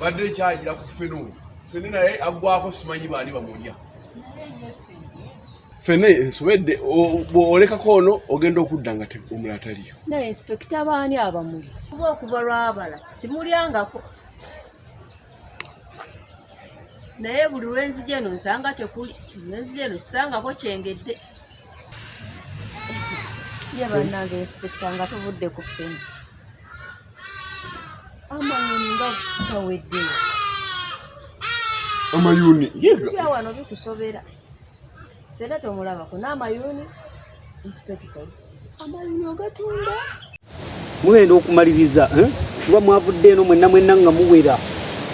badde ekyayira ku fene oyo fene naye aggwako simanyi baani bamulya fene nsobedde olekako ono ogenda okudda nga omulala taliyo naye inspekita baani abamuli kuba okuva lwabala simulyangako naye buli lwenzija eno nsanga tekuli lwenzija eno sisangako kyengedde ye bannange inspekita nga tuvudde ku fene amayuni nga tutawedde amayuni yega wano bikusobera fena tomulabako n'amayuni inspector amayuni ogatunda mugenda okumaliriza eh? kuba mwavudde eno mwenna mwenna nga muwera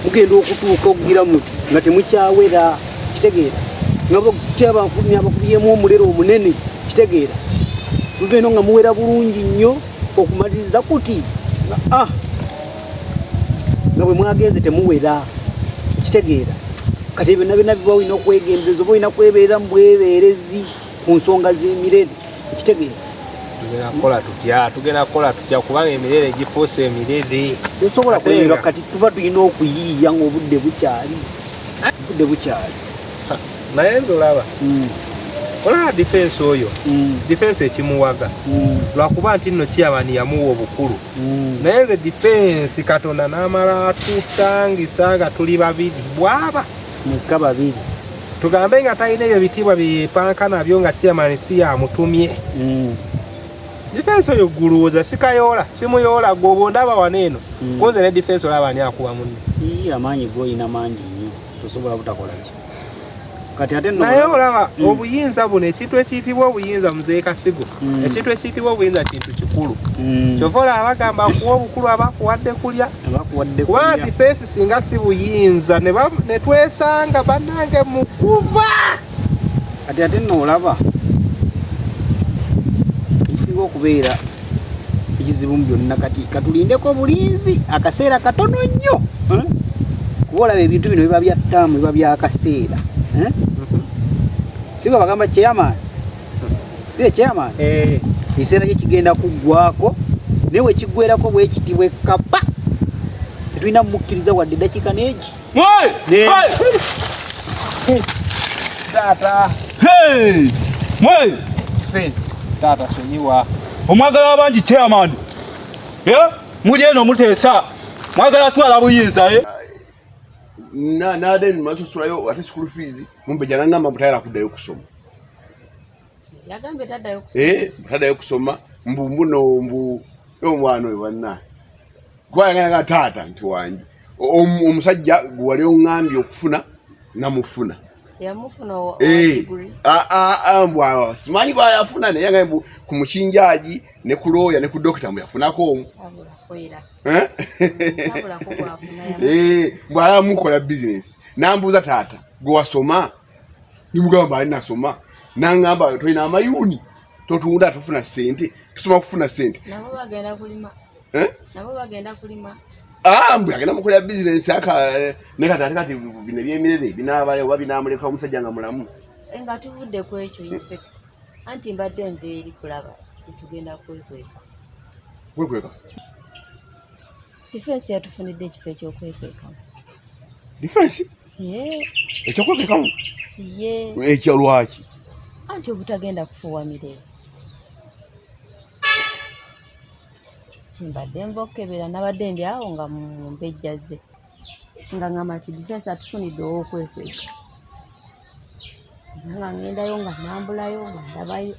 mugenda okutuuka okugira muti nga temukyawera kitegeera nga bakutyabakubyemu omulero omunene kitegeera muva eno nga muwera bulungi nnyo okumaliriza kuti ah, nga bwe mwagenze temuwera kitegeera kati byonna byonna biba olina okwegendereza oba olina kwebeera mu bwebeerezi ku nsonga z'emirere kitegeera tugenakola tutya tugenda kukola tutya kubanga emirere gifuuse emirere tosobola kulemerwa kati tuba tulina okuyiiya ngaobudde bukyali obudde bukyali naye nze olaba mm. olaba difensi oyo mm. difensi ekimuwaga mm. lwakuba nti nno kiyabani yamuwa obukulu naye nze difensi katonda n'amala atusangisa nga tuli babiri bwaba mukka babiri tugambe nga talina ebyo bitiibwa byeyepanka nabyo nga kiyamani si yamutumye difensi oyo guluwuza sikayoola simuyoola gwe oba ondaba wano eno kunze ne difensi olaba ani akuwa munne amaanyi goyina mangi nnyo tosobola butakolaki naye olaba mm. obuyinza buno ekintu ekiyitibwa obuyinza muzee kasigo mm. ekintu ekiyitibwa obuyinza kintu kikulu mm. kyova olaba bagamba kuwa obukulu abakuwadde kulya kuba difensi singa si buyinza ne twesanga banange mukuba kati ate noolaba ekisinga okubeera ekizibu mu byonna kati katulindeko obulinzi akaseera katono nnyo eh? kuba olaba ebintu bino biba bya ttaamu biba byakaseera eh? siga bagamba chairman si chairman eh. ekiseera kye kigenda kuggwako naye wekiggwerako bwekiti bwekapa tetulina mumukkiriza wadde eddakiika neegi omwagala wabangi chairman eh? muli eno muteesa mwagala twala buyinza eh? nade masasulayo ate school fees mumbe janangamba mutayala kudayo kusoma yagambye tadayo kusoma eh, mbu mbuno mbu omwana oyo bannaye gwayagalaga taata nti wange omusajja gwewali oŋambye okufuna namufuna eh, mbwawa simanyi gwayafuna naye nga ku mukinjaji ne ku looya ne ku dokita mbu yafunako omu eh? eh, mbwala mukola bizinesi nambuuza taata gwewasoma nimugamba ali nasoma nangamba tolina amayuni totunda tufuna sente tusoma kufuna sente eh? nabo bagenda kulima ah, mbu agenda mukolera bizinensi ne kati ate kati bino ebyemirere binaabayo oba binaamuleka omusajja nga mulamu eh, nga tuvudde ku ekyo inspect anti mbadde nva eri kulaba tetugenda kwekweka kwekweka difensi yatufunidde ekifo ekyokwekekamu difensi ekyokwekekamu ekyo lwaki anti obutagenda kufuwa mirembe kimbadde nva okukebera nabadde ndi awo nga mumpejja ze nga ngamba nti difensi atufunidde owokwekweka nga ngendayo nga nambulayo nga ndabayo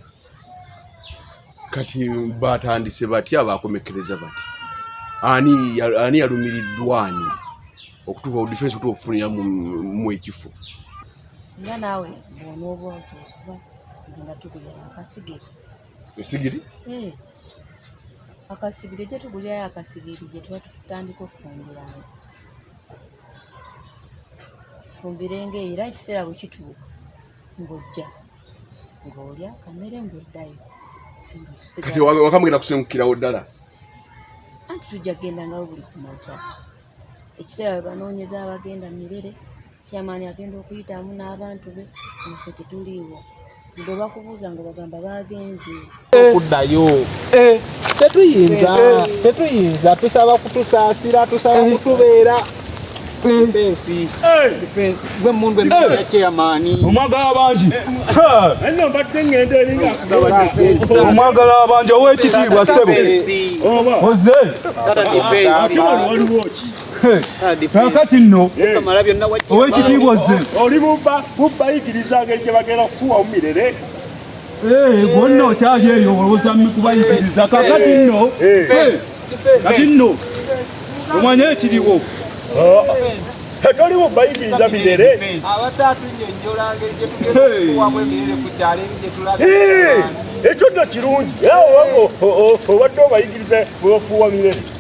kati batandise batya bakomekereza bati ani ani yalumiriddwani okutuuka ku difensi okutuuka okufunira mu ekifo nga naawe bwonaoba otuuba nga tukulira akasigezo esigiri eh, akasigiri gye tugulirayo akasigiri gye tuba tutandika okufumbiranga fumbirenga era ekiseera bwe kituuka ng'ojja ng'olya kamere ng'oddayo kati wakamugenda kusengukirawo ddala anti tujja kugenda ngawo buli kumakya ekiseera we banoonyeza abagenda mirere Chairman agenda okuyitamu n'abantu be naffe tetuliiwo bwe bakubuuza nga bagamba baagenze okuddayo eh. tetuyinza eh. tetuyinza tusaba kutusaasira tusaba eh. kutubeera omwagala abangi omwagala abangi owekitiibwa sebo oze kakati nno owekitiibwa ozze oli bubba bubba yigiriza ngeri gye bagenda kufuwa omumirere bonna okyali eyo olowooza mikubayigiriza kakati nno kati nno omwanya ekiriwo toliwo bayigiriza mirere ekyo nno kirungi obadde obayigiriza bwebafuuwa mirere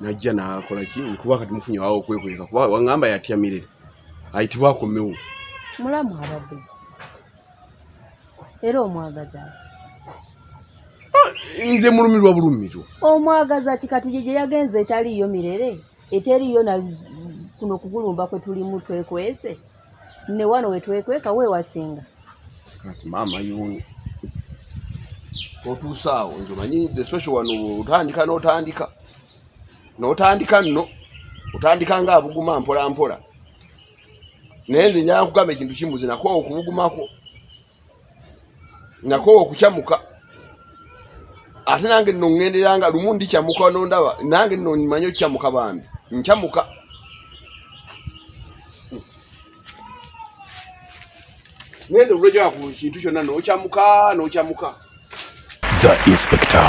najja nakola ki nkuba kati mufunye wawo okwekweka kuba wangamba yatya mirere ayitibwa akomewo mulamu abadde era omwagaza ah, nze mulumirwa bulumirwa omwagaza ki kati gye gye yagenze etaliiyo mirere eteriiyo na kuno kugulumba kwe tulimu twekwese ne wano wetwekweka wewasinga kasi maama yuuni otuusaawo nze manyi the special wano otandika n'otandika n'otandika nno otandika nga abuguma mpola mpola naye nze njaa nkugamba ekintu kimuzi nakwo okubugumako nakowa okukyamuka ate nange nno ŋŋendera nga lumu ndikyamuka nondaba nange nno manye okukyamuka bambi nkyamuka ŋende olwejoa ku kintu kyonna nokyamuka nokyamuka the inspector